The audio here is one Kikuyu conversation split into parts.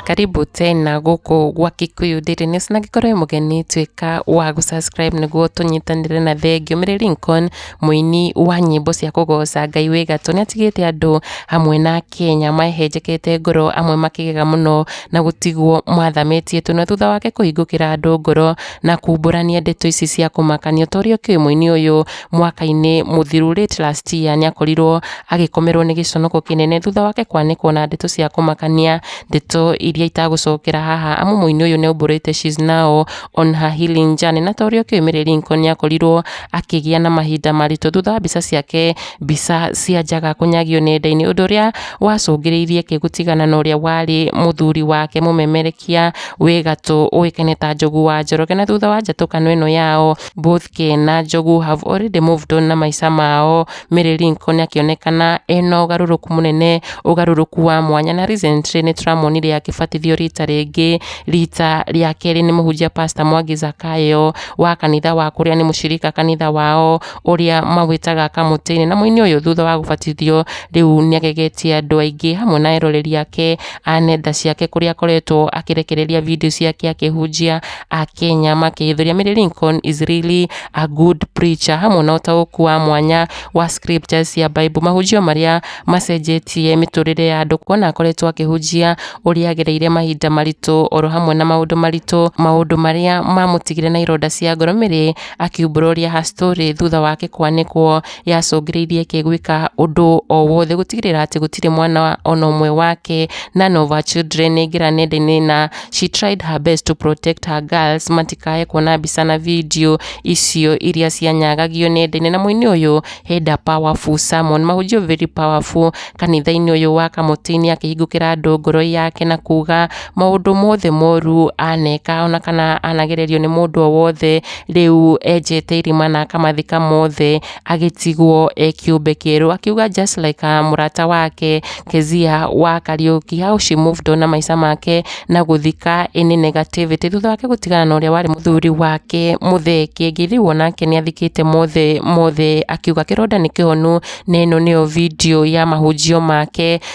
karibu tena gũkũ gwa Kikuyu Daily News na angĩkorwo wĩ mũgeni tuĩka wa gũsubscribe nĩguo tũnyitanĩre na thengio Mary Lincoln mũini wa nyĩmbo cia kũgoca Ngai wĩ gatũ nĩ atigĩte andũ hamwe na Kenya mahenjekete ngoro amwe makĩgega mũno na gũtigwo mathamĩtie tũnua thutha wake kũhingũkĩra andũ ngoro na kumbũrania ndeto ici cia kũmakania ta ũrĩa ũkĩũĩ mũini ũyũ mwaka-inĩ mũthiru late last year nĩ akorirwo agĩkomerwo nĩ gĩconoko kĩnene thutha wake kwanĩkwo na ndeto cia kũmakania ndeto iria itagũcokera haha amu mũini ũyũ nĩ aumbũrĩte she's now on her healing journey na ta ũrĩa ũkĩũĩ Mary Linko nĩ akorirwo akĩgĩa na mahinda maritũ thutha wa mbica ciake mbica cia njaga kũnyagio nenda-inĩ ũndũ ũrĩa wacũngĩrĩirie kĩ gũtigana na ũrĩa warĩ mũthuri wake mũmemerekia wĩ gatũ ũĩkaine ta Njogu wa Njoroge na thutha wa njatũkano ĩno yao both Kĩ na Njogu have already moved on na maica mao Mary Lincoln akĩonekana ena ũgarũrũku mũnene ũgarũrũku wa mwanya na recently nĩ tũramuonire akĩbatithio rita rĩngĩ rita rĩa kerĩ nĩ mũhunjia pastor Mwangi Zakayo wa kanitha wa kũrĩa nĩ mũcirika kanitha wao ũrĩa mawĩtaga kamũtĩ-inĩ na mũini ũyũ thutha wa gũbatithio rĩu nĩ agegetie andũ aingĩ hamwe na eroreri ake a nenda ciake kũrĩa akoretwo akĩrekereria video ciake akĩhunjia a Kenya makĩhithũria Mary Lincoln is really a good preacher hamwe na ũtaũku wa mwanya wa scriptures cia Bible mahunjio marĩa macenjetie mĩtũrĩre ya andũ kuona akoretwo akĩhunjia ũrĩa agereire mahinda maritũ oro hamwe na maũndũ maritũ maũndũ marĩa mamũtigire na ironda cia ngoro Mary akiumbũra ũrĩa her story thutha wake kwanĩkwo yacũngĩrĩirie kĩ gwĩka ũndũ o wothe gũtigĩrĩra atĩ gũtirĩ mwana ona ũmwe wake none of her children aingĩra nenda-inĩ na she tried her best to protect her girls matikae kuona mbica na video icio iria cianyagagio nenda-inĩ na mũini ũyũ henda powerful sermon mahunjio very powerful kanitha-inĩ ũyũ wa kamũtĩ-inĩ akĩhingũkĩra andũ ngoro yake na kuga maũndũ mothe moru aneka ona kana anagererio nĩ mũndũ o wothe Rĩu enjete irima na akamathika mothe, agĩtigwo e kĩũmbe kĩerũ. Akiuga just like a mũrata wake Kezia wa Kariuki how she moved on na maica make na gũthika any negativity. Thutha wake gũtigana na ũrĩa warĩ mũthuri wake Mũthee Kĩengei, rĩu onake nĩ athikĩte mothe mothe, akiuga kĩronda nĩ kĩhonu na ĩno nĩyo video ya mahunjio make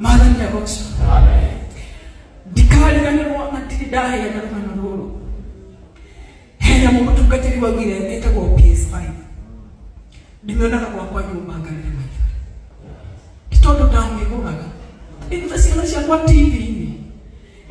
mwathani agoca ndikariganirwo na ndirĩ ndahĩa na rũgano rũrũ hena mũtungatĩri wa wira etagwo PS5 ndimĩonaga gwakwa nyũmba ngarĩre maitho ti tondũ ndamĩgũraga ndĩruta ciana ciakwa TV-inĩ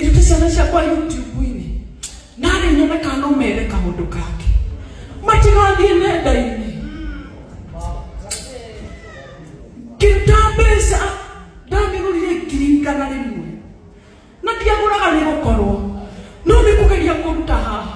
Ĩrute ciana ciakwa YouTube-inĩ na rĩ nyone kana no mere kaũndũ kake matigathiĩ nenda-inĩ ngĩruta mbeca ndamĩgũrire ngiri igana rĩmwe na ndiagũraga nĩ gũkorwo no nĩ kũgeria kũruta haha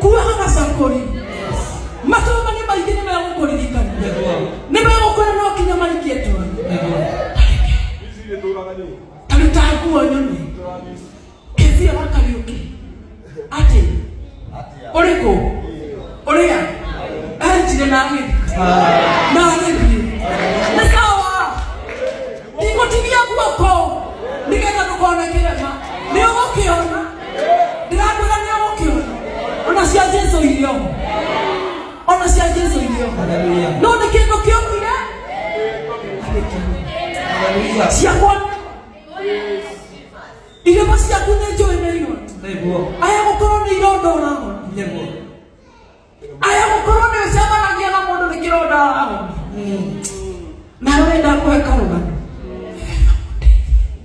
kuoha gacakũri matũma nĩ maingĩ nĩ megũkũririkana nĩ megũkwĩra no nginya marikie toro taruta nguo nyone kĩthia wa kariũki atĩ ũrĩ kũ ũrĩa anjire na agĩthika na agĩthiĩ nĩ kawa ndikũtigia guoko nĩgetha ndũkona kĩrema nĩ ũgũkĩona ndĩrakwĩra nĩ ũgũkĩona ona cia jesu irio ona cia jesu irio Hallelujah. no nĩ kĩndũ kĩomire Hallelujah. ciakwa irĩma ciaku nĩ njũĩ nĩ irona Nĩguo. aya gũkorwo nĩ ironda ũragona Nĩguo. aya gukorwo ni ucemanagia na mundu ni kironda wao na wenda kuhe karugano